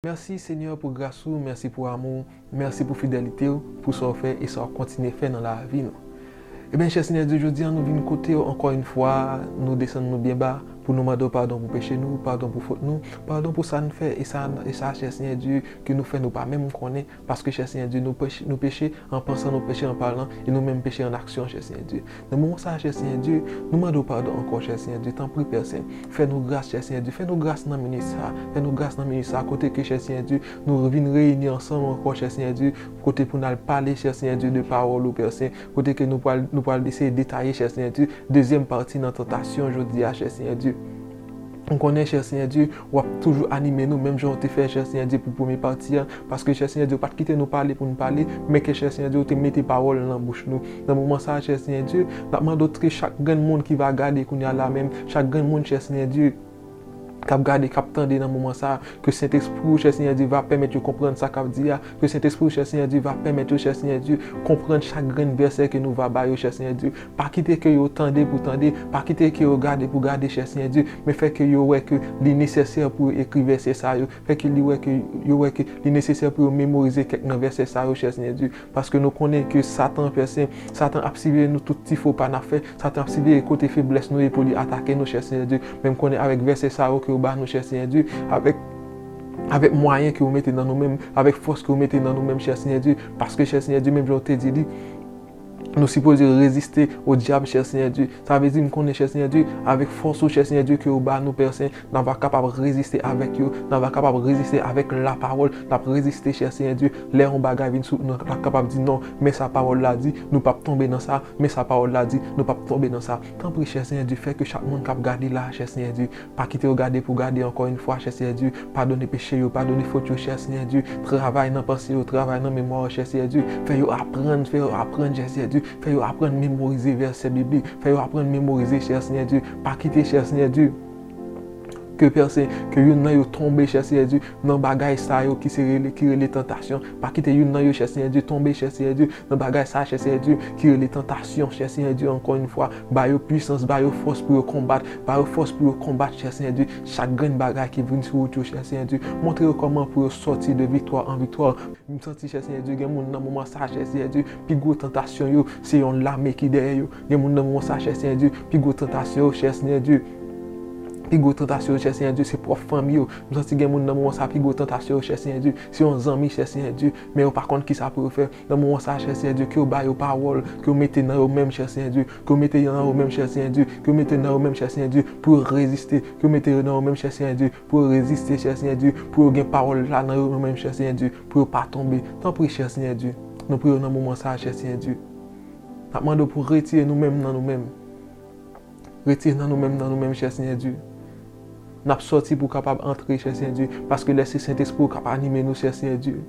Merci seigneur pou gras ou merci pou amou ou merci pou fidelite ou pou sa ou fè e sa ou kontinye fè nan lavi nou ebyen chè seigneur Dieu jodia nou vin kotew ankò yn fwa nou desann nou byen ba pou nou mandew padon pou peche nou padon pou fot nou padon pou sa n fè e sa chè seigneur Dieu ke nou fè nou pa menm konnen Paske, chè Senyè Dye, nou pèche, nou peche an pansan, nou peche an palan, e nou menm peche an aksyon, chè Senyè Dye. Nan moman sa a, chè Senyè Dye, nou mande w padon ankò, chè Senyè Dye, tanpri, Pè Sen, fè nou gras, chè Senyè Dye, fè nou gras nan minit sa a, fè nou gras nan minit sa a, kote ke, chè Senyè Dye, nou vin reyini ansanm ankò, chè Senyè Dye, kote pou n al pale, chè Senyè Dye, de pawòl ou, Pè Sen, kote ke nou pral, nou pral eseye detaye, chè Senyè Dye, dezyèm pati nan tantasyon jodi a, chè Senyè Dye. M konnen chè Senyè Dye, ou ap toujou anime nou menm jan ou te fè chè Senyè Dye pou premye pati a, paske chè Senyè Dye ou pa t kite nou pale pou n pale, men ke chè Senyè Dye ou te mete pawòl nan bouch nou. Nan moman sa a chè Senyè Dye, n ap mande w ske chak grenn moun ki va gade kounye a la menm, chak grenn moun chè Senyè Dye, k ap gade, k ap tande nan moman sa a, ke Sentespri ou chè Senyè Dye va pèmèt yo konprann sa k ap di a, ke Sentespri ou chè Senyè Dye va pèmèt yo chè Senyè Dye konprann chak grenn vèsè ke nou va ba yo chè Senyè Dye, Pa kite ke yo tande pou tande, pa kite ke yo gade pou gade chè Senyè Dye, men fè ke yo wè ke li nesesè pou yo ekri vèsè sa yo, fè ke li wè ke, yo wè ke li nesesè pou yo memorize kèk nan vèsè sa yo, chè Senyè Dye. Paske nou konnen ke Satan an pè Sen, Satan ap siveye nou tout ti fo pa n'ap fè, Satan ap siveye kote feblès nou ye pou li atake nou, chè Senyè Dye. Men m konnen avèk vèsè sa yo ke ou ba nou, chè Senyè Dye, avèk, avèk mwayen ke ou mete nan nou menm, avèk fòs ke ou mete nan nou menm, chè Senyè Dye, paske chè Senyè Dye, menm jan ou te di li, Nou sipoze reziste o dyab chè Senyè Dye. Sa vle di m konnen chè Senyè Dye, avèk fòs ou chè Senyè Dye ke ou ba nou Pè Sen, n a va kapab reziste avèk yo, n a va kapab reziste avèk lapawòl, n ap reziste chè Senyè Dye, lè yon bagay vin sou nou n ap kapab di non, men sa pawòl la di, nou pap tonbe nan sa, men sa pawòl la di, nou pap tonbe nan sa. Tanpri chè Senyè Dye fè ke chak moun k ap gade la a chè Senyè Dye, Pa kite yo gade pou gade ankò yn fwa chè Seyè Dieu padone peche yo padone fot yo chè Seyè Dieu travay nan panse yo travay nan memwa yo chè Seyè Dieu fè yo aprann fè yo aprann chè Seyè Dieu fè yo aprann memorize vèsè biblik fè yo aprann memorize chè Seyè Dieu pa kite chè Seyè Dieu ke pèsen ke youn nan yo tonbe chè Seyè Dieu nan bagay sa yo ki se rele ki rele tantasyon pa kite youn nan yo chè Seyè Dieu tonbe chè Seyè Dieu Nan bagay sa chè Senyè Dye ki rele tantasyon chè Senyè Dye ankò yn fwa ba yo pwisans ba yo fòs pou yo konbat ba yo fòs pou yo konbat chè Senyè Dye chak grenn bagay ki vin sou wout yo chè Senyè Dye montre yo kòman pou yo sòti de viktwa an viktwa m santi chè Senyè Dye gen moun nan moman sa chè Senyè Dye pi gwo tantasyon yo se yon lame ki dèyè yo gen moun nan moman sa chè Senyè Dye pi gwo tantasyon yo chè Senyè Dye pi gwo tantasyon yo chè Senyè Dye se pwòp fanmi yo m santi gen moun nan moman sa pi gwo tantasyon yo chè Senyè Dye se yon zanmi chè Senyè Dye Men yo pa konn kisa pou yo fè. Nan moman sa a, chè Senyè Dye, ke w ba yo pawòl, ke w mete nan yo menm, chè Senyè Dye, ke w mete yo nan yo menm, chè Senyè Dye, ke w mete nan yo menm, chè Senyè Dye, pou yo reziste, ke w mete yo nan yo menm, chè Senyè Dye, pou yo reziste, chè Senyè Dye, pou yo gen pawòl la nan yo menm, chè Senyè Dye, pou yo pa tonbe. Tanpri, chè Senyè Dye, nou priye w nan moman sa a, chè Senyè Dye. N ap mande w pou w retire nou menm nan nou menm. Retire nan nou menm nan nou menm chè Senyè Dye. Nap sòti pou kapab antre chè Senyè Dye. Paske lè se Sentespri ou kap anime nou chè Senyè Dye.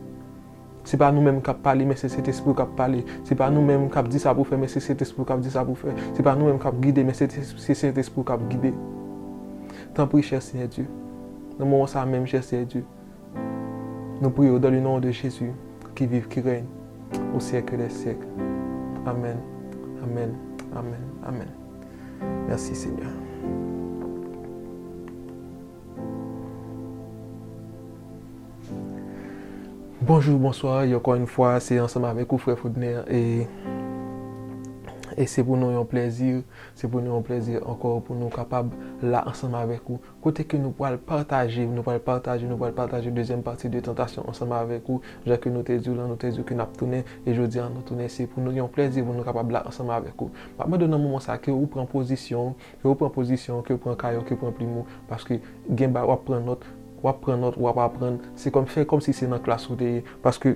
Se pa nou menm kap pale men se Sentespri ou kap pale. Se pa nou menm kap di sa pou fè men se Sentespri ou kap di sa pou fè. Se pa nou menm kap gide men se Sentespri ou kap gide. Tanpri chè Senyè Dye. Nan moman sa menm chè Senyè Dye. Nou priye w dan le non de Jezi ki viv ki rèyn o syèkl dè syèkl amèn amèn amèn amèn mèsi senyè. Bonjou bonswa e ankò yn fwa se ansanm avèk ou frè Fodner e e se pou nou yon plèzi se pou nou yon plèzi ankò pou nou kapab la ansanm avèk ou Kote ke nou pwal pataje, nou pwal pataje, nou pwal pataje dezyèm pati de Tantasyon ansanm avèk ou. Jan ke nou te di w lan, nou te di w ke nap tounen, e jodi an nou tounen se pou nou yon plèzi pou nou kapab la ansanm avèk ou. Map mande w nan moman sa ke ou pran pozisyon w, ke ou pran pozisyon w, ke ou pran kaye w, ke ou pran plim ou, paske gen ba wap pran nòt, wap pran nòt, wap aprann, se kòm, fè kòm si se nan klas ou te ye, paske.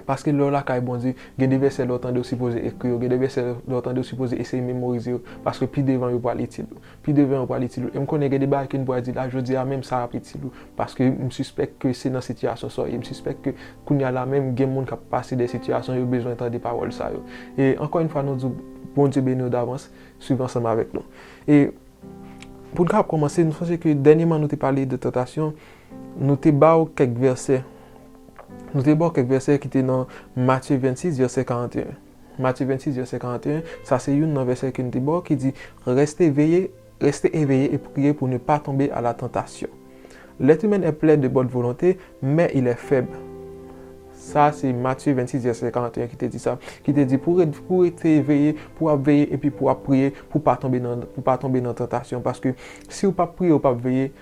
Paske lè w lakay Bondye, gen de vèsè lè w tande w sipoze ekri yo, gen de vèsè lè w tande w sipoze eseye memorize yo, paske pi devan yo pral itil ou. Pi devan yo pral itil ou. E m konnen gen de bagay ke n pral di la, jodi a menm sa ap itil ou, paske m sispèk ke se nan sitiyasyon sa w ye, m sispèk ke kounye a la menm gen moun k ap pase de sitiyasyon yo bezwen tande pawòl sa yo. E ankò yon fwa nou di w Bondye beni w davans, swiv ansanm avèk nou. E pou n ka kòmanse, m sonje ke dènyeman nou te pale de tantasyon, nou te ba w kèk vèsè Nou te ba w kèk vèsè ki te nan Matye 26, vèsè 41. Matye 26, vèsè 41, sa se youn nan vèsè ke n te ba w ki di, Reste veye, reste eveye e priye pou ne pa tonbe a la tantasyon. Lèt imenn è plen de bòn volonte, men il è fèb. Sa se Matye 26, vèsè 41 ki te di sa. Ki te di pou ou rete eveye, pou w ap veye epi pou w ap priye pou w pa tonbe nan tantasyon. Paske si ou p ap priye, ou p ap veye,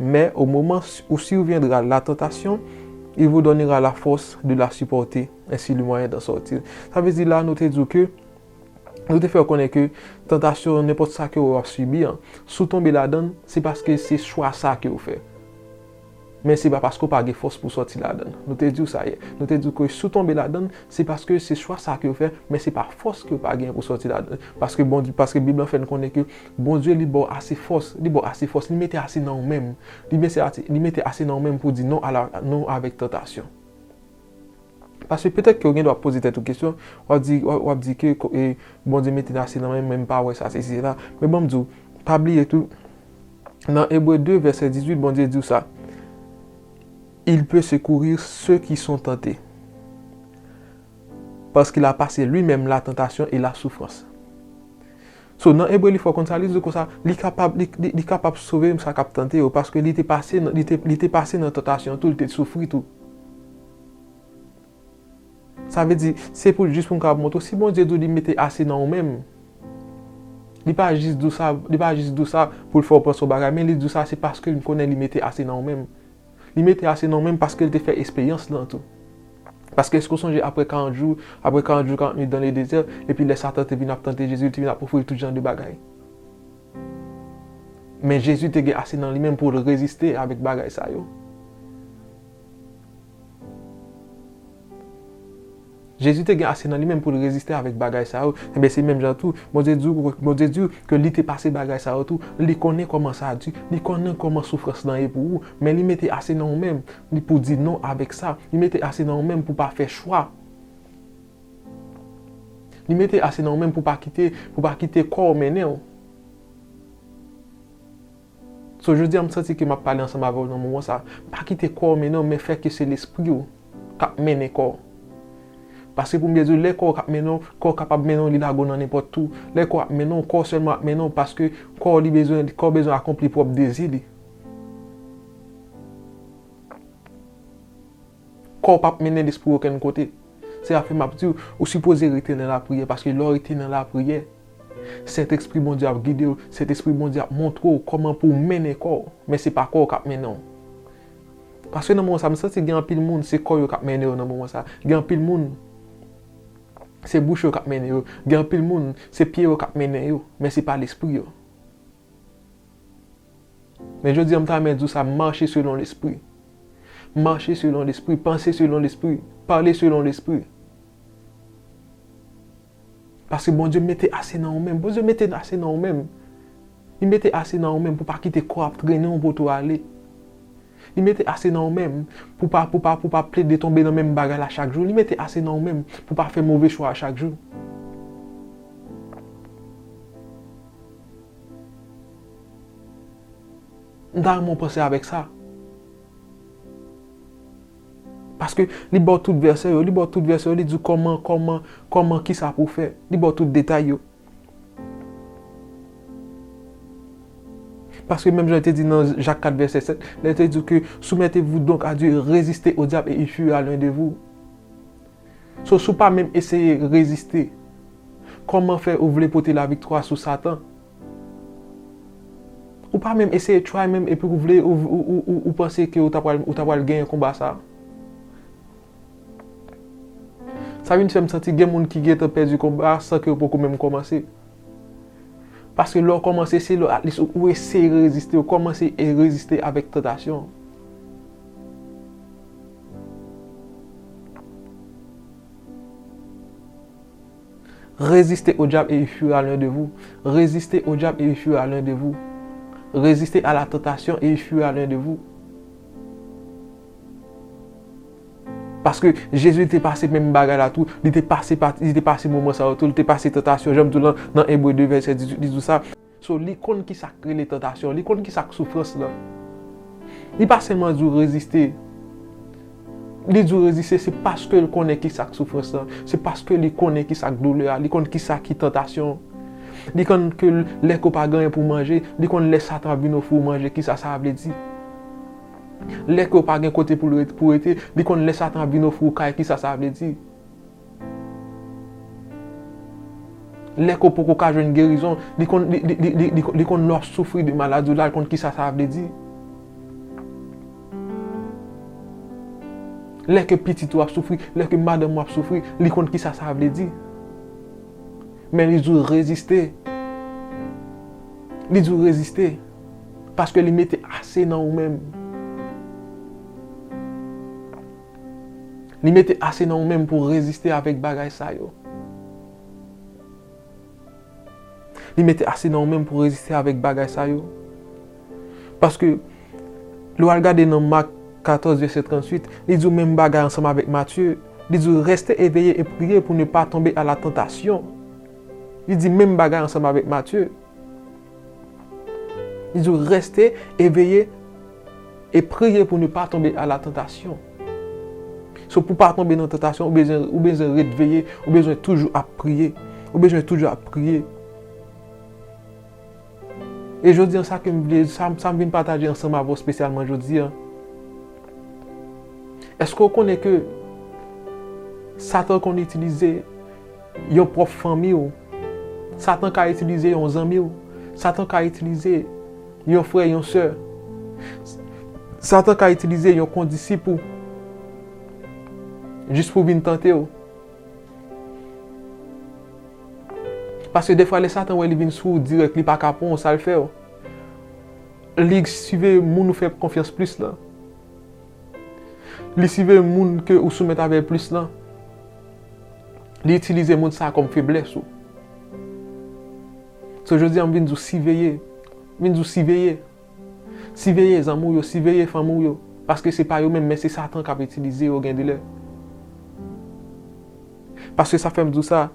Mais au moment où surviendra la tentation, il vous donnera la force de la supporter, ainsi le moyen d'en sortir. Sa vle di la nou te di w ke, nou te fè w konnen ke tantasyon nenpòt sa ke ou ap sibi an, si w tonbe ladan l, se paske se chwa sa ke ou fè. Men se pa paske ou pa gen fòs pou w sòti ladan l. Nou te di w sa yè. Nou te di w ke si w tonbe ladan l, se paske se chwa sa ke ou fè, men se pa fòs ke ou pa genyen pou w sòti ladan l. Paske Bondye, paske Bib lan fè nou konnen ke Bondye li baw ase fòs, li baw ase fòs, li mete ase nan ou menm, li mese ase, li mete ase nan ou menm pou w di non a la, non avèk tantasyon. Paske petèt ke ou gen dwa poze tèt ou kesyon, wap di, wap di ke e, Bondye mete nan ase nan menm men m pa wè sa sesi se la, men banm di w, pa bliye tou, nan Ebre 2 vèsè 18 Bondye di w sa, Il peut secourir ceux qui sont tentés, parce qu'il a passé lui-même la tentation et la souffrance. So nan Ebre li fè w konn sa li di konsa, li kapab li kapab sove m sa k ap tante yo paske li te pase li te pase nan tantasyon tou, li te soufri tou. Sa vle di, se pou jis pou m kapab montre w, si Bondye di w li mete ase nan ou menm, li pa jis di w sa li pa jis di w sa pou l fè w panse yon bagay men li di w sa se paske li konnen li mete ase nan ou menm. Li mete ase nan men m paske l te fè esperyans lan tou. Paske èske w sonje apre karant jou, apre karant jou karant nuit dan le dezè, epi lè Satan te vin ap tante Jezi, li te vin ap ofri l tout jan de bagay. Men Jezi te gen ase nan li men m pou l reziste avèk bagay sa yo. Jezi te gen ase nan li menm pou l reziste avèk bagay sa yo. Enben, se menm jan tou, Bondye di w, Bondye di w ke li te pase bagay sa yo tou. Li konnen kòman sa di, li konnen kòman soufrans lan ye pou ou, men li mete ase nan ou menm li pou di non avèk sa. Li mete ase nan ou menm pou pa fè chwa. Li mete ase nan ou menm pou pa kite, pou pa kite kò w mennen w. So jodi a m santi ke map pale ansanm avèw nan moman sa. Pa kite kòw mennen w men fè ke se lespriw kap mennen kòw. Paske pou m byen diw lè kòw kap mennen w, kòw kapab mennen w li lago nan nenpòt tou. Lè kòw ap mennen w, kòw sèlman ap mennen w paske kòw li bezwen, kòw bezwen akonpli pwòp dezi li. Kò w pap mennen lespri w okenn kote. Se sa k fè m ap di w, ou sipoze rete nan lapriyè, paske lè w rete nan lapriyè, Sentespri Bondye ap gide w, Sentespri Bondye ap montre w kòman pou w mennen kò w, men se pa kò w k ap mennen w. Paske nan moman sa a, m santi gen anpil moun, se kò yo k ap mennen yo nan moman sa a. Gen anpil moun, se bouch yo k ap mennen yo. Gen anpil moun, se pye yo k ap mennen yo, men se pa lespri yo. Men jodi a m ta renmen di w sa, mache selon lespri. Mache selon lespri, panse selon lespri, pale selon lespri. Paske Bondye mete ase nan ou menm. Bondye mete ase nan ou menm. Li mete ase nan ou menm pou pa kite kò a ap trennen w poto ale. Li mete ase nan ou menm pou pa pou pa pou pa plede tonbe nan menm bagay la chak jou. Li mete ase nan ou menm pou pa fè move chwa a chak jou. M ta renmen w panse avèk sa. Paske li ba w tout vèsè yo, li ba w tout vèsè yo, li di w kòman, kòman, kòman, kisa pou w fè. Li ba w tout detay yo. Paske menm jan li te di nan Jak 4 vèsè 7, lè li te di w ke soumettez-vous donc à Dieu, résistez au diable et il fuira loin de vous. So si w pa menm eseye reziste, kòman fè ou vle pote laviktwa sou satan? Ou pa menm eseye try menm epi ou vle ou panse ke ou ta pral ou ta pral genyen konba sa? Sa vin fè m santi gen moun ki gentan pèdi konba a san ke yo poko menm kòmanse. Paske lè w kòmanse se lè atlis ou eseye reziste, ou kòmanse reziste avèk tantasyon. Reziste o dyab e i fwira lwen de vou. Reziste o dyab e i fwira lwen de vou. Reziste a la tantasyon e i fwira lwen de vou. Paske Jezi te pase menm bagay la tou. Li te pase moman sa yo tou. Li te pase tantasyon. Janm di w lan, nan Ebre 2 vèsè 18 li di w sa. So li konn kisak rele tantasyon, li konn kisak soufrans lan. Li pa sèlman di w reziste, li di w reziste se paske l konnen kisak soufrans lan, se paske li konnen kisak doulè a, li konn kisa ki tantasyon. Li konn ke lè ke w pa gen anyen pou w manje, li konn lè satan ap vin ofri w manje kisa sa vle di. Lè ke w pa gen kote pou rete, li konn lè satan ap vin ofri w kay kisa sa vle di. Lè kò w poko ka jwenn gerizon, li konn, li, li, li, li, li konn lè w ap soufri de maladi w la, l konn kisa sa vle di. Lè ke pitit ou ap soufri, lè ke madanm ou ap soufri, li konn kisa sa vle di. Men li di w reziste. Li di w reziste. Paske li mete ase nan ou menm. Li mete ase nan ou menm pou reziste avèk bagay sa yo. Li mete ase nan ou menm pou reziste avèk bagay sa yo. Paske, lè w al gade nan Mak 14 vèsè 38, li di w menm bagay ansanm avèk Matye. Li di w, rèste eveye e priye pou ne pa tonbe a la tantasyon. Li di menm bagay ansanm avèk Matye. Li di w reste eveye e priye pou nou pa tonbe a la tantasyon. So pou pa tonbe nan tantasyon, ou bezwen ret veye, ou bezwen toujou ap priye, ou bezwen toujou ap priye. E jodi an sa ke m vle, sa m vin pataje ansanm avè w spesyalman jodi an, eske w konnen ke satan konn itilize Yon pwòf fanmi w. Satan ka itilize yon zanmi w. Satan ka itilize yon frè, yon sè. Satan ka itilize yon kondisip ou jis pou vin tante w. Paske defwa lè Satan wè li vin sou ou dirèk, li pa ka pran w, sa l fè w? Li siveye moun ou fè konfyans plis lan. Li siveye moun ke ou soumèt avè l plis lan. Li itilize moun sa kòm feblès ou. So jodi a m vin di w siveye, m vin di w siveye. Siveye zanmi w yo, siveye fanmi w yo. Paske se pa yo menm men se satan k ap itilize yo gendilè. Paske sa fè m di w sa.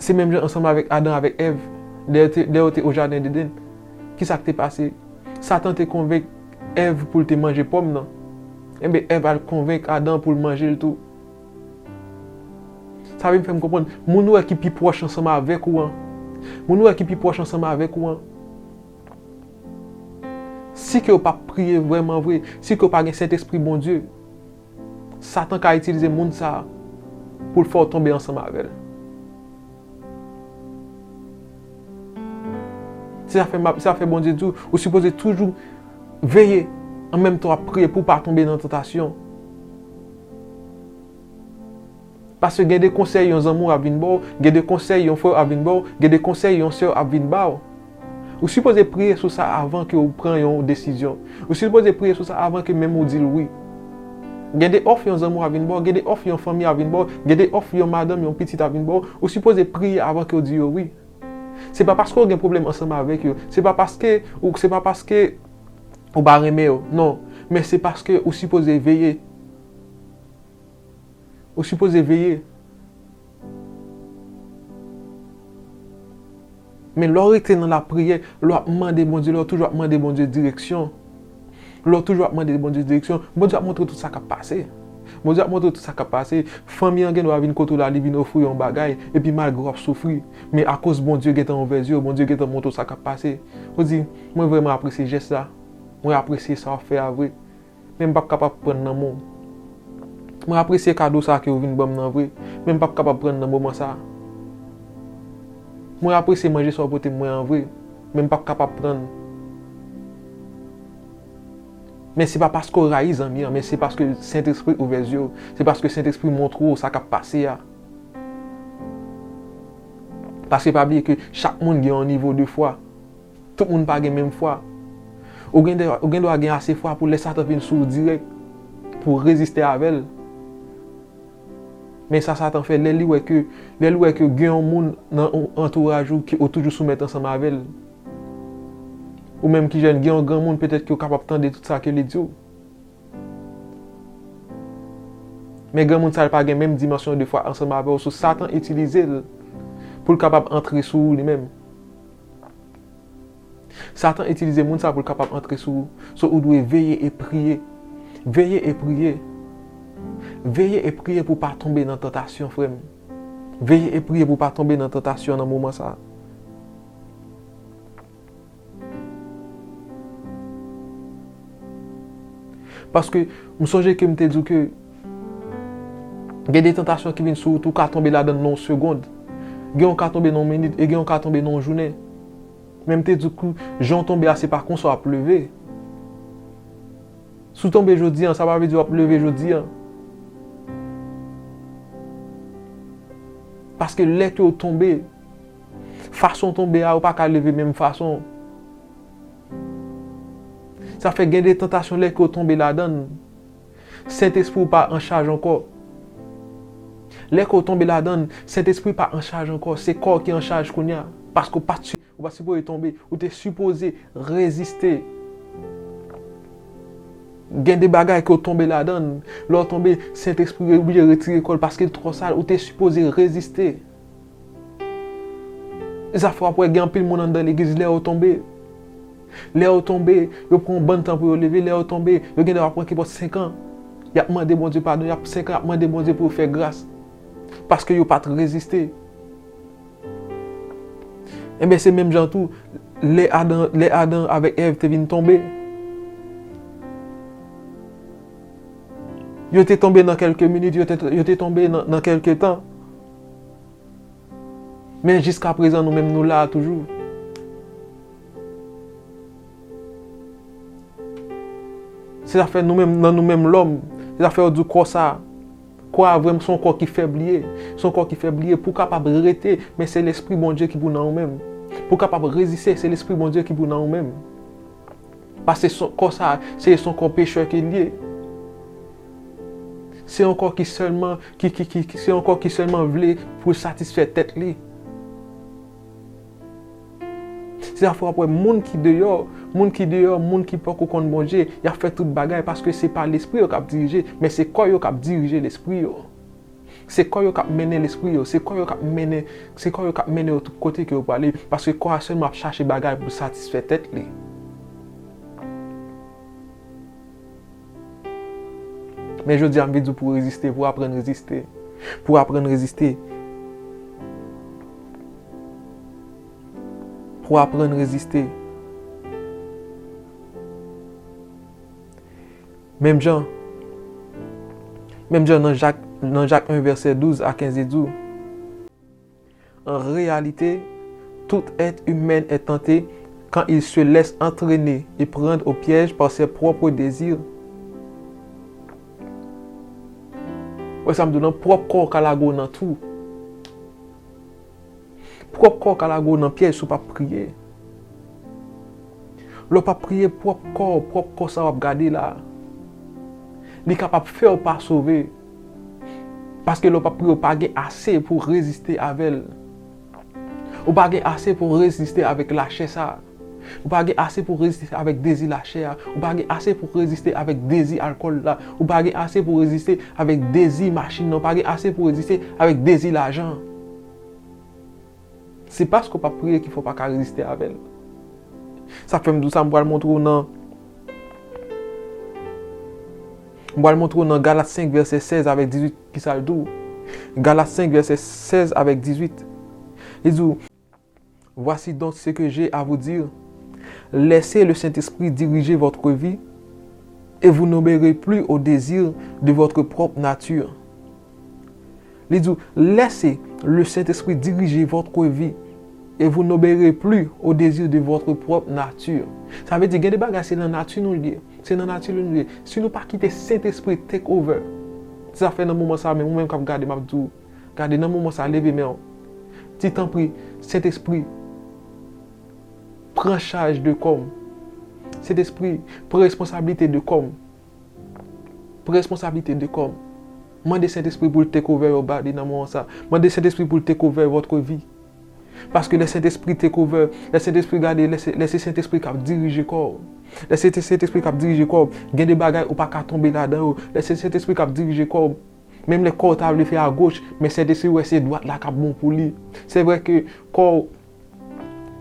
Se menm jan ansanm avèk Adan avèk Èv, lè yo te o jaden Deden, ki sa k te pase? Satan te konvenk Èv pou l te manje pòm nan. Enben, Èv al konvenk Adan pou l manje l tou. Sa vin fè m konprann, moun ou wè ki pi pwòch ansanm avèk ou an, moun ou wè ki pi pwòch ansanm avèk ou an, si ke yo pa p priye vrèmanvre, si ke yo pa gen Sentespri Bondye, Satan ka itilize moun sa a pou l fè w tonbe ansanm avè l. Se sa k fè Bondye di w ou sipoze toujou veye anmenmtan w ap priye pou w pa tonbe nan tantasyon. Paske gen de konsèy yon zanmi w ap vin ba w, gen de konsèy yon frè w ap vin ba w, gen de konsèy yon sè w ap vin ba w. Ou sipoze priye sou sa avan ke w pran yon desizyon. Ou sipoze priye sou sa avan ke menm ou di l wi. Gen de òf yon zanmi w ap vin ba w, gen de òf yon fanmi ap vin ba w, gen de òf yon madanm, yon pitit ap vin ba w, ou sipoze priye avan ke w di yo wi. Se pa paske w gen pwoblèm ansanm avèk yo, se pa paske ou, se pa paske ou pa renmen yo, non, men se paske ou sipoze veye. Ou sipoze veye. Men lè w rete nan lapriyè, lè w ap mande Bondye, lè w toujou ap mande Bondye direksyon, lè w toujou ap mande Bondye direksyon, Bondye ap montre w tout sa k ap pase. Bondye ap montre w tout sa k ap pase. Fanmi an gendwa vin kote w la, li vin ofri w yon bagay, epi malgre w ap soufri, men akoz Bondye gentan ouvè zye w, Bondye gentan montre w sa k ap pase, ou di, Mwen vrèman apresye jès la. Mwen apresye sa w fè a vre. Men m pap kapab prann nan men w. Mwen apresye kado sa ke ou vin ban m nan vre, men m pap kapab prann nan moman sa. Mwen apresye manje sa ou pote mwen an vre, men m pap kapab prann. Men se pa paske ou rayi zanmi an, men se paske Sentespri ouvè zye w, se paske Sentespri montre w sa k ap pase a. Paske pa bliye ke chak moun gen yon nivo de fwa. Tout moun pa gen menm fwa. Ou gen dwa gen ase fwa pou lè Satan vin sou ou dirèk, pou w reziste avè l. Men sa Satan fè lè li wè ke, lè l wè ke gen yon moun nan antouraj ou ke ou toujou soumèt ansanm avè l. Ou menm ki jèn, gen yon granmoun petèt ke ou kapab tande tout sa ke li di w. Men granmoun sa li pa gen menm dimansyon de fwa ansanm avè w, sou Satan itilize l pou l kapab antre sou ou li menm. Satan itilize moun sa pou l kapab antre sou ou. So ou dwe veye e priye. Veye e priye. Veye e priye pou w pa tonbe nan tantasyon frè m. Veye e priye pou w pa tonbe nan tantasyon nan moman sa. Paske m sonje ke m te di w ke Gen de tantasyon ki vin sou wout ou, ou ka tonbe ladan l nan yon segond. Gen yon ka tonbe nan yon minit e gen yon ka tonbe nan yon jounen. Men m te di w ke jan w tonbe a se pa konsa w ap leve. Si w tonbe jodi an, sa pa vle di w ap leve jodi an. Paske lè ke w tonbe, fason w tonbe a ou pa ka leve menm fason. Sa fè gen de tantasyon lè ke w tonbe ladan l, Sentespri w pa anchaj ankò. Lè ke w tonbe ladann, Sentespri pa anchaj ankò. Se kò w ki anchaj kounya. Paske w pat ou pat sipoze tonbe. Ou te sipoze reziste. Gen de bagay ke w tonbe ladann. Lè w tonbe, Sentespri oblije retire kò l paske l twò sal. Ou te sipoze reziste. Zafè wap wè gen anpil moun anndan legliz lè yo tonbe lè yo tonbe yo pran yon bann tan pou yo leve lè yo tonbe yo gen lè wap wè kipòt 5 an yap mande Bondye padon yap 5 an yap mande Bondye pou yo fè gras paske yo pat reziste enben se menm jan tou lè Adan lè Adan avèk Èv te vin tonbe yo te tonbe nan kèlke minit yo te tonbe nan kèlke tan Men jiska prezan nou menm nou la a toujou. Se zafè nou menm nan nou menm lòm. Se zafè yo di w kò sa. Kò a vrèman se yon kò ki fèb li ye. Se yon kò ki fèb li ye. Pou w kapab rete men se lespri Bondye ki pou nan ou menm. Pou w kapab reziste se lespri Bondye ki pou nan ou menm. Pase son kò sa a, se son kò pechè ke l ye. Se yon kò ki sèlman, ki, ki, ki, se yon kò ki sèlman vle pou l satisfè tèt li. Se sa fè w ap wè moun ki deyò, moun ki deyò, moun ki poko konn Bondye, y ap fè tout bagay paske se pa lespri yo k ap dirije, men se kò yo k ap dirije lespri yo. Se kò yo k ap mennen lespri yo. Se kò yo k ap mennen, se kò yo k ap mennen yo tout kote ke yo prale. Paske kò a sèlman ap chache bagay pou l satisfè tèt li. Men jodi a m vin di w pou w reziste, pou w aprann reziste. Pou w aprann reziste. Pou w aprann reziste. Menm jan Menm jan nan Jak nan Jak 1 vèsè 12 a 15 li di w. An reyalite, tout èt imèn è tante kan il se lès antrene e prand o pyèj par sè pwòpr dezir. Wè sa m di w nan? Pwòp kò w ka lage w nan twou. Pwòp kò w ka lage w nan pyèj si w pa p priye. Lè w pa p priye, pwòp kò w, pwòp kò sa w ap gade la, li kapab fè w pa sove. Paske lè w pa p priye, w pa gen ase pou w reziste avè l. Ou pa gen ase pou w reziste avèk lachè sa a. Ou pa gen ase pou reziste avèk dezi lachè a, ou pa gen ase pou reziste avèk dezi alkòl la, ou pa gen ase pou reziste avèk dezi machin nan, ou pa gen ase pou reziste avèk dezi lajan an. Se paske ou pa priye ki fè ou pa ka reziste avè l. Sa k fè m di w sa, m pral montre w nan M pral montre w nan Galat 5 vèsè 16 avèk 18 ki sa l di w. Galat 5 vèsè 16 avèk 18, li di w. Voici donc ce que j'ai à vous dire, Laissez le Saint-Esprit diriger votre vie et vous n'obéirez plus aux désirs de votre propre nature. Li di w, Laissez le Saint-Esprit diriger votre vie et vous n'obéirez plus aux désirs de votre propre nature. Sa vle di gen de bagay se nan nati nou li ye, se nan nati nou li ye. Si nou pa kite Saint-Esprit take over zafè nan moman sa menm, ou menm k ap gade m ap di w, Gade nan moman sa leve menw. Di tanpri Sentespri pran chaj de kòm. Sentespri pran responsablite de kòm. Pran responsablite de kòm. Mande Sentespri poul take over your body nan moman sa. Mande Sentespri poul take over votre vie. Paske lè Sentespri take over, lè Sentespri gade, lè se Sentespri kap dirije kòw. Lè se Sentespri kap dirije kòw, gen de bagay ou paka tonbe ladan yo. Lè se Sentespri kap dirije kòw. Menm lè kò w ta vle fè agoch, men Sentespri wè se dwat la k ap bon pou li. Se vre ke kò w,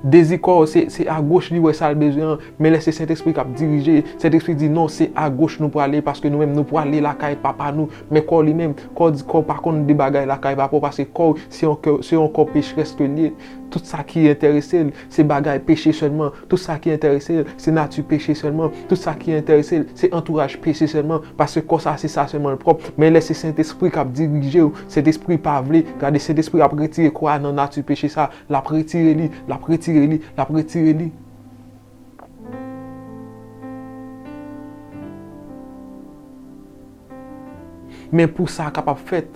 dezi kò w se agoch li wè sa l bezwen an, men lè se Sentespri k ap dirije, Sentespri di non se agoch nou prale paske nou menm nou prale lakay Papa nou. Men kò w li menm, kò w di kò w pa konn de bagay lakay Papa w paske kò w se yon kè, se yon kò pecherès ke l ye. Tout sa ki enterese l, se bagay peche sèlman. Tout sa ki enterese l, se nati peche sèlman. Tout sa ki enterese l, se antouraj peche sèlman. Paske kò sa a se sa sèlman l pwòp. Men lè se Sentespri k ap dirije w, Sentespri pa vle, gade Sentespri ap retire kò a nan nati peche sa a. L ap retire li, l ap retire li, l ap retire li. Men pou sa kapab fèt,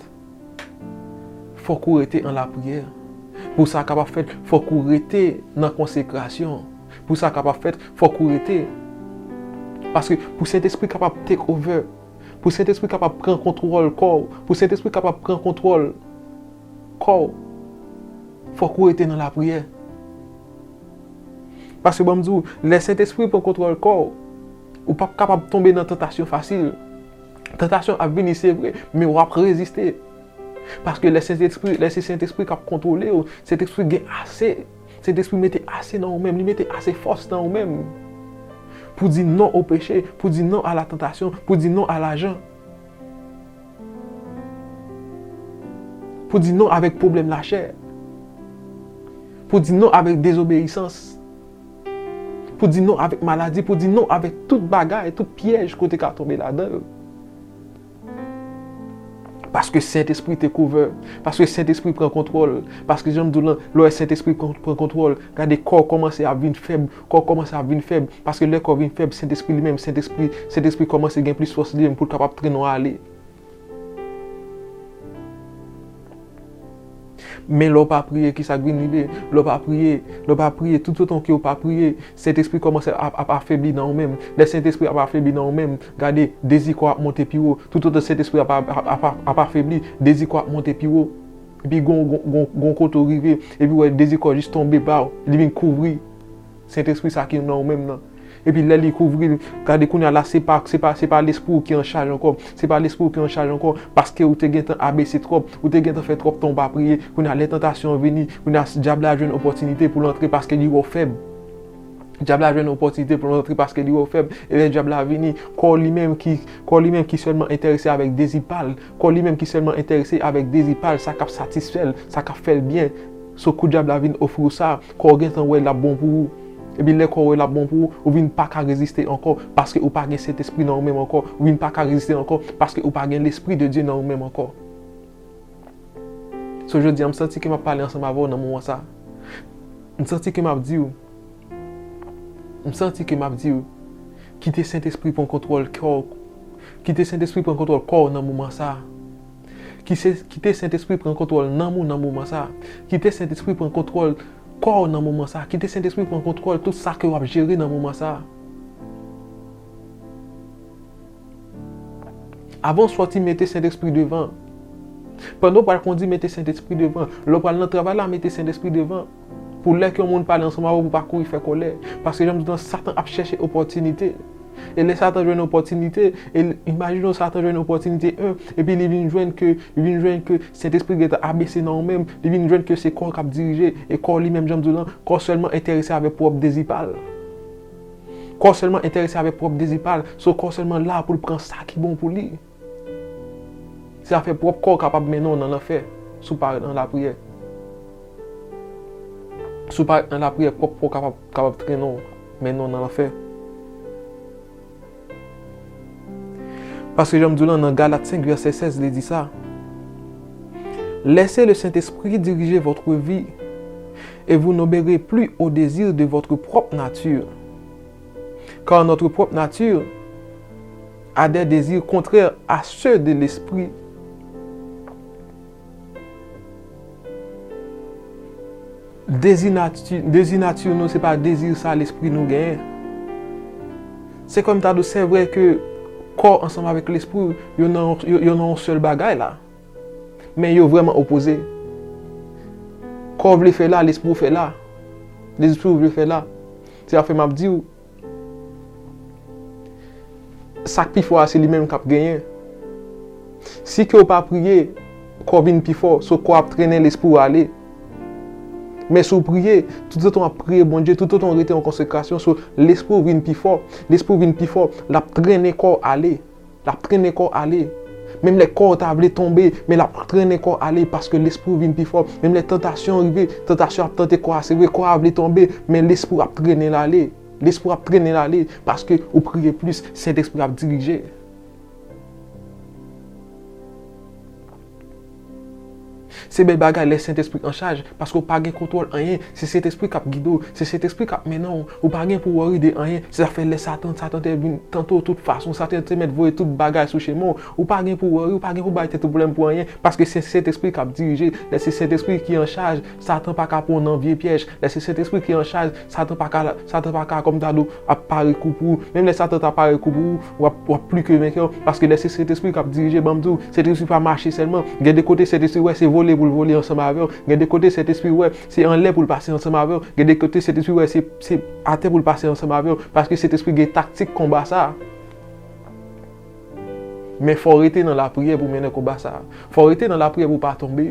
fòk ou rete an lapriyè. Pou sa kapab fèt, fòk ou rete nan konsekrasyon. Pou sa kapab fèt, fòk ou rete. Paske pou Sentespri kapab take over, pou Sentespri kapab pran kontwòl kò ou, pou Sentespri kapab pran kontwòl kò ou, fòk ou rete nan lapriyè. Paske ban m di ou, lè Sentespri pran kontwòl kò ou, Ou pap kapab tonbe nan tantasyon fasil. Tantasyon ap vini se vre, men w ap reziste. Paske lè Sentespri, lè se Sentespri k ap kontwole w, Sentespri gen ase, Sentespri mete ase nan ou menm, li mete ase fòs nan ou menm pou di non o peche, pou di non a la tantasyon, pou di non a lajan. Pou di non avèk pwoblèm lachè. Pou di non avèk dezobeyisans. Pou di non avèk maladi, pou di non avèk tout bagay, tout pyèj ke w te ka tonbe ladan yo. Paske Sentespri te kouvè, paske Sentespri pran kontwòl, paske jan m di w lan, lè Sentespri pran kontwòl, gade kò w kòmanse ap vin fèb, kò w kòmanse ap vin fèb, paske lè kò w vin fèb, Sentespri li menm, Sentespri, Sentespri kòmanse gen plis fòs li menm pou l kapab trennen w ale. Men lè w pa priye, ki sa k vin rive? Lè w pa priye, lè w pa priye, toutotan ke w pa priye, Sentespri kòmanse ap ap afebli nan ou menm. Lè Sentespri ap afebli nan ou menm, gade, dezi kò a ap monte pi wo. Toutotan Sentespri a ap ap afebli, dezi kò a ap monte pi wo. Epi gen yon gen yon gen yon kote ou rive, epi ou wè dezi kò jis tonbe ba w, li vin kouvri. Sentespri sa ki nan ou menm nan. Epi lè li kouvri l, gade kounye a la se pa se pa se pa lespri ou ki an chaj ankò, se pa lespri ou ki an chaj ankò, paske ou te gentan abese twòp, ou te gentan fè twòp tan ou pa priye, kounye a lè tantasyon an vini, kounye a dyab la jwenn opòtinite pou l antre paske li wè ou fèb. Dyab la jwenn opòtinite pou l antre paske li wè ou fèb, e lè dyab la vini, kò li menm ki kò li menm ki sèlman enterese avèk dezi pa l, kò li menm ki sèlman enterese avèk dezi pa l, sa k ap satisfè l, sa k ap fè l byen, so kou dyab la vin ofri ou sa, Kò w gentan wè l ap bon pou ou. Ebyen lè kò w wè l ap bon pou ou, ou vin pa ka reziste ankò, paske ou pa gen Sentespri nan ou menm ankò. Ou vin pa ka reziste ankò, paske ou pa gen Lespri de Dye nan ou menm ankò. So jodi a, m santi ke m ap pale ansanm avè w nan moman sa a. M santi ke m ap di w, m santi ke m ap di w, kite Sentespri pran kontwòl kè w, kite Sentespri pran kontwòl kò w nan moman sa a. Kite Sentespri pran kontwòl nanm ou nan moman sa. Kite Sentespri pran kontwòl kò ou nan moman sa. Kite Sentespri pran kontwòl tout sa ke wap jere nan moman sa. Avan ou sòti mete Sentespri devan. Pandan ou pral kondi mete Sentespri devan. Lè ou pral nan travay la mete Sentespri devan. Pou lè ke yon moun pale ansanm avè w pou pa kouri fè kòlè. Paske jan m di w lan satan ap chèche opòtinite. E lè satan jwenn opòtinite, e imajine w satan jwenn opòtinite 1, epi li vin jwenn ke, li vin jwenn ke Sentespri gen tan abese nan ou menm, li vin jwenn ke se kò w k ap dirije, e kò w li menm jan m di w lan, kò w sèlman enterese avè pwòp dezi pa l. Kò w sèlman enterese avè pwòp dezi pa l. So kò w sèlman la pou l pran sa ki bon pou li. Se afè pwòp kò w kapab mennen w nan lanfè si w pa ret nan lapriyè. Si w pa ret nan lapriyè, pwòp kò w kapab trennen w, mennen w nan lanfè. Paske jan m di w lan, nan Galat 5 vèsè 16 li di sa, Laissez le Saint-Esprit diriger votre vie, et vous n'obéirez plus aux désirs de votre propre nature. Car notre propre nature, A des désirs contraires à ceux de l'esprit Dezi nati, dezi nature nou se pa dezi sa lespri nou genyen. Se kòm ta dou se vre ke kò ansanm avèk lespri yo nan yo nan yon sèl bagay la. Men yo vreman opoze. Kò vle fè la, lespri ou fè la. Lespri ou vle fè la. Se sa fè m ap di ou. Sak pifò a se li menm kap genyen. Si ke ou pa priye, kò vin pifò, so kò ap trennen lespri ou ale. Men si ou priye, tout otan wap priye Bondye, tout otan ou rete an konsekrasyon, so lespri ou vin pifò, lespri ou vin pifò, lap trennen kò ale. L ap trennen kò w ale. Menm lè kò w ta vle tonbe, men l ap trennen kò w ale paske lespri w vin pi fò. Menm lè tantasyon rive, tantasyon ap tante kò a, se vre kò a vle tonbe, men lespri w ap trennen l ale. Lespri w ap trennen l ale paske ou priye plis, Sentespri a ap dirije. Se bèl bagay lè Sentespri anchaj, paske ou pa gen kontwòl anyen, se Sentespri kap gide w, se Sentespri kap mennen w, ou pa gen pou worry de anyen, se sa fè lè Satan, Satan te vin tante w tout fason, Satan te mèt voye tout bagay sou chemen w, ou pa gen pou worry, ou pa gen pou bay tèt ou pwoblèm pou anyen, paske se Sentespri kap dirije, lè se Sentespri ki anchaj, Satan pa ka pwan nan vye pyèj. Lè se Sentespri ki an chaj, Satan pa ka, Satan pa ka, kòm ta di w, ap pare kou pou ou. Menm lè Satan ta pare kou pou ou, w ap, w ap pli ke venkè. Paske lè se Sentespri k ap dirije, ban m di w, Sentespri pa mache sèlman. Gen de kote Sentespri wè, se vole pou l vole ansanm avè w. Gen de kote Sentespri wè, se anlè pou l pase ansanm avè w. Gen de kote Sentespri wè, se, se atè pou l pase ansanm avè w. Paske Sentespri gen taktik konba sa a. Men fò w rete nan lapriyè pou w mennen konba sa a. Fò w rete nan lapriyè pou w pa tonbe.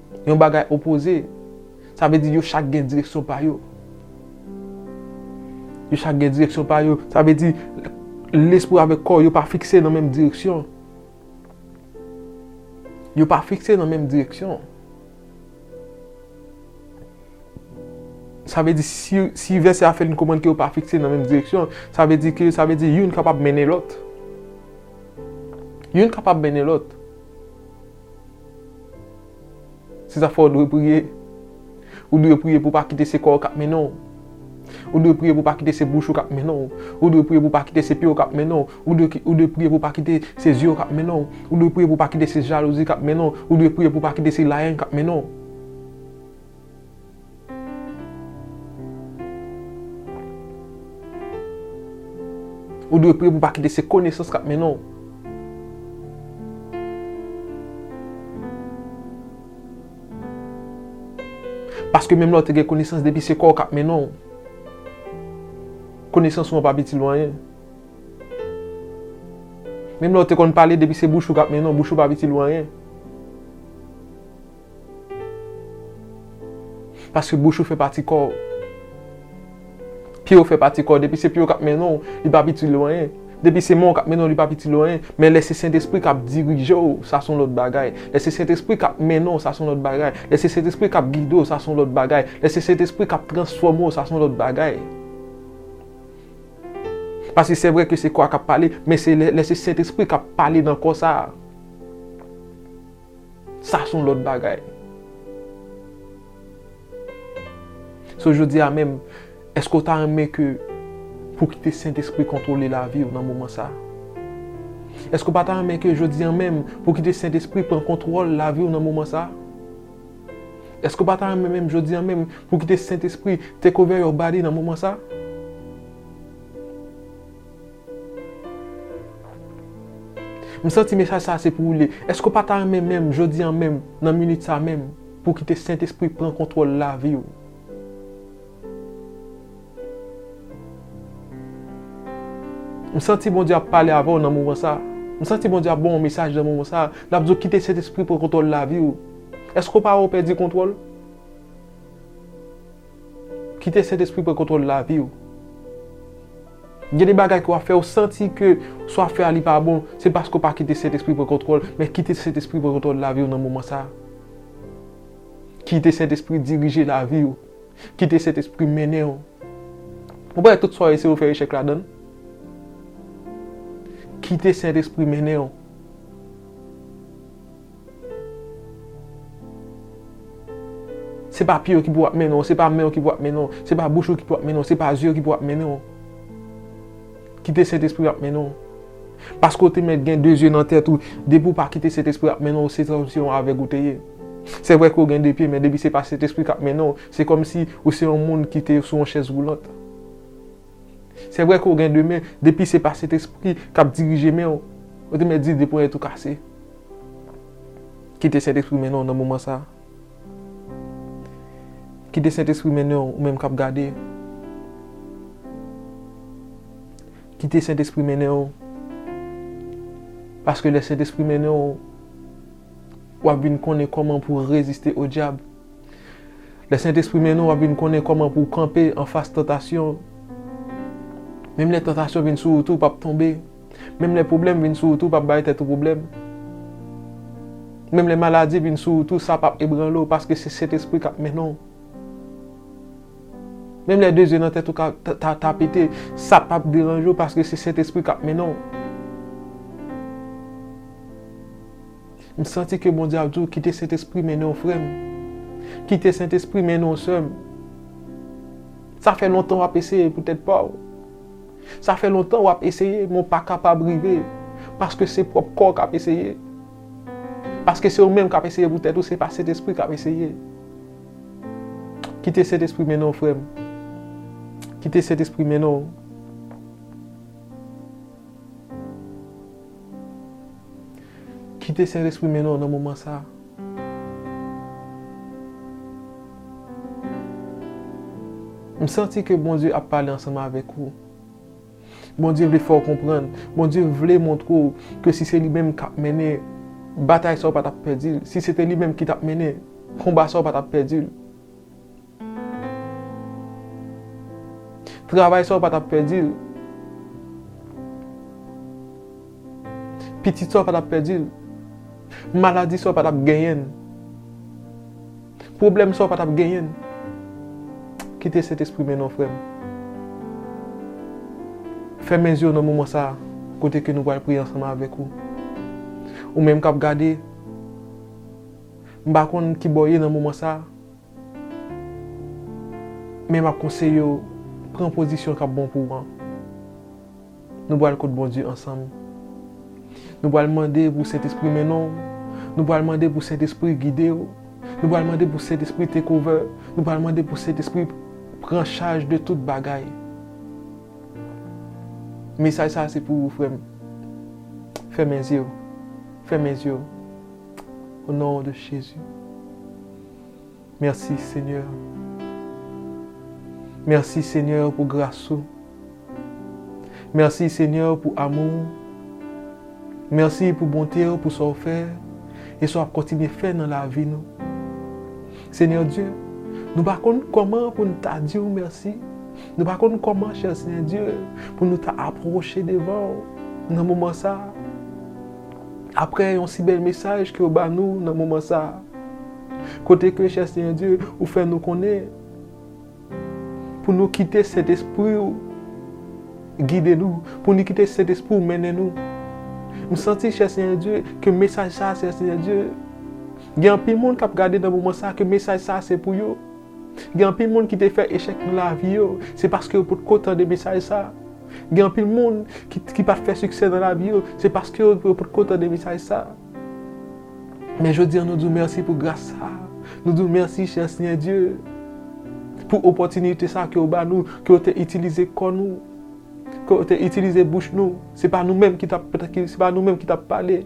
Yon bagay opoze. Sa vle di yo chak gen direksyon pa yo. Yo chak gen direksyon pa yo. Sa vle di lespri yo avèk kò yo pa fikse nan menm direksyon. Yo pa fikse nan menm direksyon. Sa vle di si vèsè a fè nou konprann ke yo pa fikse nan menm direksyon, sa vle di ke, sa vle di youn kapab mennen lòt. Youn kapab mennen lòt. Se sa k fè w dwe priye. Ou dwe priye pou w pa kite se kò w k ap mennen w. Ou dwe priye pou w pa kite se bouch ou k ap mennen w. Ou dwe priye pou w pa kite se pye w k ap mennen w. Ou dwe priye pou w pa kite se zye w k ap mennen w. Ou dwe priye pou w pa kite se jalouzi k ap mennen w. Ou dwe priye pou w pa kite se layèn k ap mennen w. Ou dwe priye pou pa kite se konesans k ap mennen w. Paske menm lè w te gen konesans depi se kò w k ap mennen w, konesans ou an p ap itil ou anyen. Menm lè w te konn pale depi se bouch ou k ap mennen w, bouch ou pa ap itil ou anyen. Paske bouch ou fè pati kò ou. Pye ou fè pati kò ou. Depi se pye ou k ap mennen ou, li p ap itil ou anyen. Depi se men ou k ap mennen ou, li p ap itil ou anyen. Men lè se Sentespri k ap dirije ou, sa se yon lòt bagay. Lè se Sentespri k ap mennen ou, sa se yon lòt bagay. Lè se Sentespri k ap gide ou, sa se yon lòt bagay. Lè se Sentespri k ap transfòme ou, sa se yon lòt bagay. Paske se vre ke se kò a k ap pale, men se lè se Sentespri k ap pale nan kò sa a. Sa son lòt bagay. So jodi a menm, èske ou ta renmen ke pou w kite Sentespri kontwole lavi ou nan moman sa a? Èske ou pa ta renmen ke jodi an menm pou w kite Sentespri pran kontwòl lavi ou nan moman sa a? Èske ou pa ta renmen menm jodi an menm pou w kite Sentespri take over your body nan moman sa a? M santi mesaj sa a se pou ou li. Èske ou pa ta renmen menm jodi an menm, nan minit sa a menm, pou w kite Sentespri pran kontwòl lavi ou? M santi Bondye ap pale avè w nan moman sa a. M santi Bondye ap ban w yon mesaj nan moman sa a. L ap di w kite Sentespri pran kontwòl lavi ou. Èske ou pa wè ou pèdi kontwòl? Kite Sentespri pran kontwòl lavi ou. Gen de bagay ke wap fè, ou santi ke sa wap fè a li pa bon, se paske ou pa kite Sentespri pran kontwòl, men kite Sentespri pran kontwòl lavi ou nan moman sa. Kite Sentespri dirije lavi ou. Kite Sentespri mennen ou. Ou panse tout sa w eseye ou fè echèk ladann? Kite Sentespri mennen ou. Se pa pye ou ki pou ap mennen w, se pa men ou ki pou ap mennen w, se pa bouch ou ki pou ap mennen w, se pa zye ou ki pou ap mennen w. Kite Sentespri a ap mennen w. Paske ou te mèt gen de zye nan tèt ou, depi ou pa kite Sentespri a ap mennen w, se kòm si yon avèg ou te ye. Se vre ke ou gen de pye, men depi se pa Sentespri k ap mennen w, se kòm si ou se yon moun ki te sou yon chèz woulant. Se vre ke w gen de men, depi se pa Sentespri k ap dirije men w, ou te mèt di de ponyèt ou kase. Kite Sentespri mennen w nan moman sa a. Kite Sentespri mennen w, ou menm k ap gade. Kite Sentespri mennen w. Paske lè Sentespri mennen w, w ap vin konnen kòman pou w reziste o dyab. Lè Sentespri mennen w wap vin konnen kòman pou w kanpe anfas tantasyon. Menm lè tantasyon vin sou ou tou pap tonbe. Menm lè pwoblèm vin sou ou tou pap bay tèt ou pwoblèm. Menm lè maladi vin sou ou tou sa pap ebranle w paske se Sentespri kap mennen w. Menm lè dezye nan tèt ou ta pete sa pap deranje w paske se Sentespri kap mennen w. M santi ke Bondye ap di w kite Sentespri mennen w frè m. Kite Sentespri mennen w sè m. Sa fè lontan w ap eseye pou tèt pa w. Sa fè lontan w ap eseye men w pa kapab rive paske se pwòp kò w k ap eseye. Paske se ou menm k ap eseye pou tèt ou se pa Sentespri k ap eseye. Kite Sentespri mennen w frè m. Kite Sentespri mennen w. Kite Sentespri mennen w nan moman sa a. M santi ke Bondye ap pale ansanm avèk ou. Bondye vle fè w konprann. Bondye vle montre w ke si se li menm k ap mennen batay sa a ou pa t ap pèdi l. Si se te li menm ki t ap mennen konba sa a ou pa t ap pèdi l. Travay sa ou pa tap pèdi l. Pitit sa ou pa tap pèdi l. Maladi sa ou pa tap genyen l. Pwoblèm sa ou pa tap genyen l. Kite Sentespri mennen w frè m. Fèmen zye w nan moman sa a kote ke nou pral priye ansanm avèk ou. Ou menm kap gade, m pa konn kibò w ye nan moman sa a. Men map konseye w pran pozisyon kap bon pou w an. Nou pral kot Bondye ansanm. Nou pral mande pou Sentespri mennen w. Nou pral mande pou Sentespri gide w. Nou pral mande pou Sentespri take over. Nou pral mande pou Sentespri pran chaj de tout bagay. Mesaj sa se pou ou frè m. Fèmen zye w. Fèmen zye w. O non de Jezi. Merci seigneur Merci seigneur pou gras ou Merci seigneur pou amou ou Merci pou bonte ou pou sa ou fè e sa wap kontinye fè nan lavi nou seigneur Dieu nou pa konn kòman pou nou ta di ou merci nou pa konn kòman cher seigneur Dieu pou nou ta aproche devan ou nan moman sa. Aprè yon si bèl mesaj ke ou ba nou nan moman sa, kote ke chè Senyè Dye ou fè nou konnen pou nou kite Sentespri ou gide nou, pou nou kite Sentespri ou mennen nou. M santi chè Senyè Dye ke mesaj sa chè Senyè Dye gen anpil moun kap gade nan moman sa ke mesaj sa se pou yo. Gen anpil moun ki te fè echèk nan lavi yo, se paske yo potko tande mesaj sa. Gen anpil moun ki pa fè siksè nan lavi yo, se paske yo potko tande mesaj sa. Men jodi an nou di w mèsi pou gras sa. Nou di w mèsi chè Senyè Dye pou opòtinite sa ke ou ba nou, ke ou te itilize kò nou, ke ou te itilize bouch nou. Se pa nou menm ki t ap pale,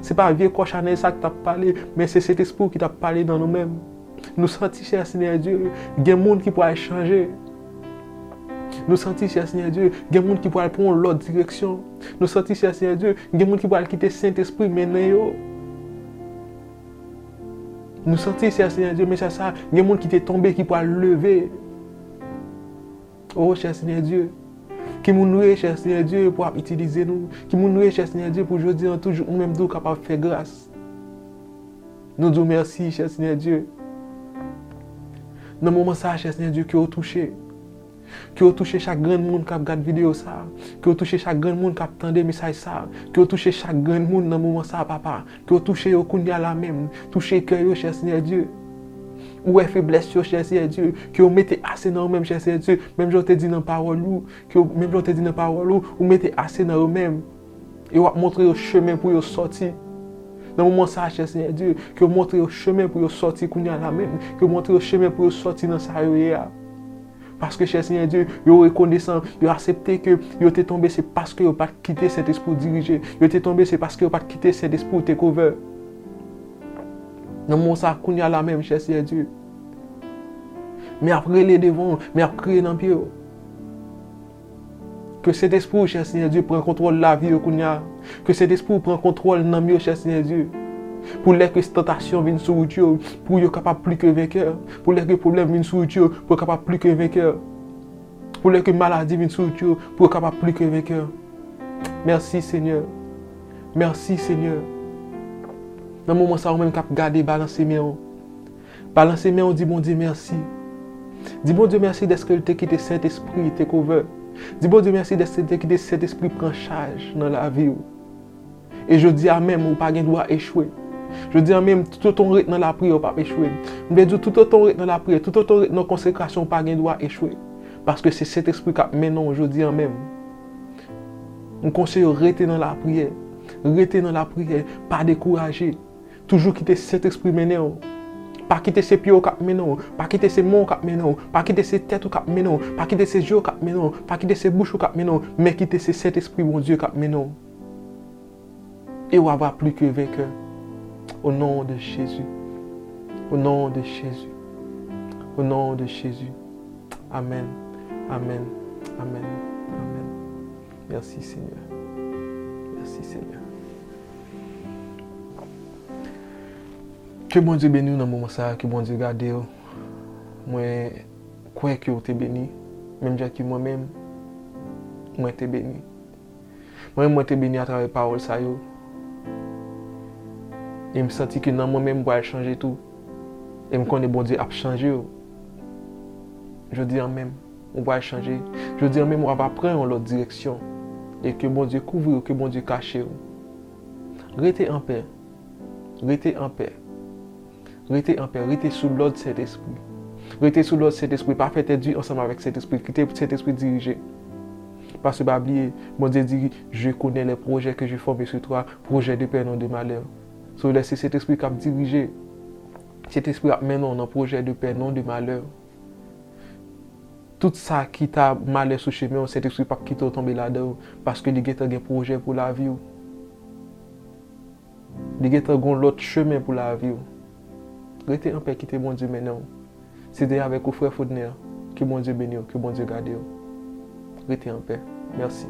se pa vye kò chanèl sa ki t ap pale, men se Sentespri w ki t ap pale nan nou menm. Nou santi chè Senyè Dye, gen moun ki pral chanje. Nou santi chè Senyè Dye, gen moun ki pral pran yon lòt direksyon. Nou santi chè Senyè Dye, gen moun ki pral kite Sentespri mennen yo. Nou santi chè Senyè Dye, men chè sa, gen moun ki te tonbe ki pral leve. O chè Senyè Dye, ki moun nou ye chè Senyè Dye pou ap itilize nou? Ki moun nou ye chè Senyè Dye pou jodi an toujou ou menm tou kapab fè gras? Nou di w mèsi chè Senyè Dye. Nan moman sa a chè Senyè Dye ke w touche. Ke w touche chak grenn moun k ap gad videyo sa a. Ke w touche chak grenn moun k ap tande mesaj sa a. Ke w touche chak grenn moun nan moman sa a papa. Ke w touche yo kounya la menm. Touche kè yo chè Senyè Dye. Ou wè feblès yo chè Senyè Dye. Ke w mete ase nan yo menm chè Senyè Dye. Menm jan w te di nan pawòl ou. Menm jan w te di nan pawòl ou. Ou mete ase nan yo menm. E w ap montre yo chemen pou yo sòti. Nan moman sa a, chè Senyè Dye, ke w montre yo chemen pou yo sòti kounye a la menm. Ke w montre yo chemen pou yo sòti nan sa yo ye a. Paske, chè Senyè Dye, yo rekonesan, yo asepte ke yo te tonbe se paske yo pa t kite Sentespri w dirije. Yo te tonbe se paske yo pa t kite Sentespri w take over. Nan moman sa a, kounye a la menm, chè Senyè Dye, men ap rele devan w, men ap kriye nan pye w. Ke Sentespri ou chè Senyè Dye pran kontwòl lavi yo kounya ke Sentespri ou pran kontwòl nanm yo chè Senyè Dye pou lè ke tantasyon vin sou wout yo pou yo kapab pli ke venkè pou lè ke pwoblèm vin sou wout yo pou yo kapab pli ke venkè pou lè ke maladi vin sou wout yo pou yo kapab pli ke venkè mèsi Senyè mèsi Senyè nan moman sa ou menm kap gade balanse men ou. Balanse men w di Bondye mèsi. Di Bondye mèsi dèske l te kite Sentespri take over. Di Bondye mèsi dèske l te kite Sentespri pran chaj nan lavi w. E jodi a menm ou pa gen dwa echwe. Jodi a menm toutotan w ret nan lapriyè ou p ap echwe. M vle di w toutotan w ret nan lapriyè, toutotan w ret nan konsekrasyon ou pa gen dwa echwe. Paske se Sentespri k ap mennen w jodi a menm. M konseye w rete nan lapriyè. Rete nan lapriyè. Pa dekouraje. Toujou kite Sentespri mennen w. Pa kite se pye w k ap mennen w. Pa kite se men w k ap mennen w. Pa kite se tèt ou k ap mennen w. Pa kite se je w k ap mennen w. Pa kite se bouch ou k ap mennen w. Men kite se Sentespri Bondye k ap mennen w. E w ava pli ke venkè. O non de Jezi. O non de Jezi. O non de Jezi. Amèn. Amèn. Amèn. Amèn. Merci seigneur merci seigneur ke Bondye beniw nan moman sa ke Bondye gadew mwen kwè ke ou te beni menm jan ke mwen menm mwen te beni mwen menm mwen te beni atravè pawòl sa yo em santi ke nan mwen menm pral chanje tou em konnen Bondye ap chanjew jodi an menm. Ou pral chanje. Jodi an menm wap ap pran yon lòt direksyon. E ke Bondye kouvriw ke Bondye kachew. Rete anpè. Rete anpè. Rete anpè. Rete sou lòd Sentespri. Rete sou lòd Sentespri. Pa fè tèt di ansanm avèk Sentespri. Kite Sentespri dirije. Paske pa bliye Bondye di je konnen lè pwojè ke je fòme sou toi, pwojè de pè non de malè. So lè se Sentespri kap dirije. Sentespri ap mennenw nan pwojè de pè non de malè. Tout sa ki ta malè sou chemen w, Sentespri pap kite w tonbe ladan yo, paske li gentan gen pwojè pou lavi w. Li gentan gon lòt chemen pou lavi w. Rete anpè kite Bondye mennen w. Se te avèk ou frè Fodner. Ke Bondye beni w, ke Bondye gade w. Rete anpè. Mèsi.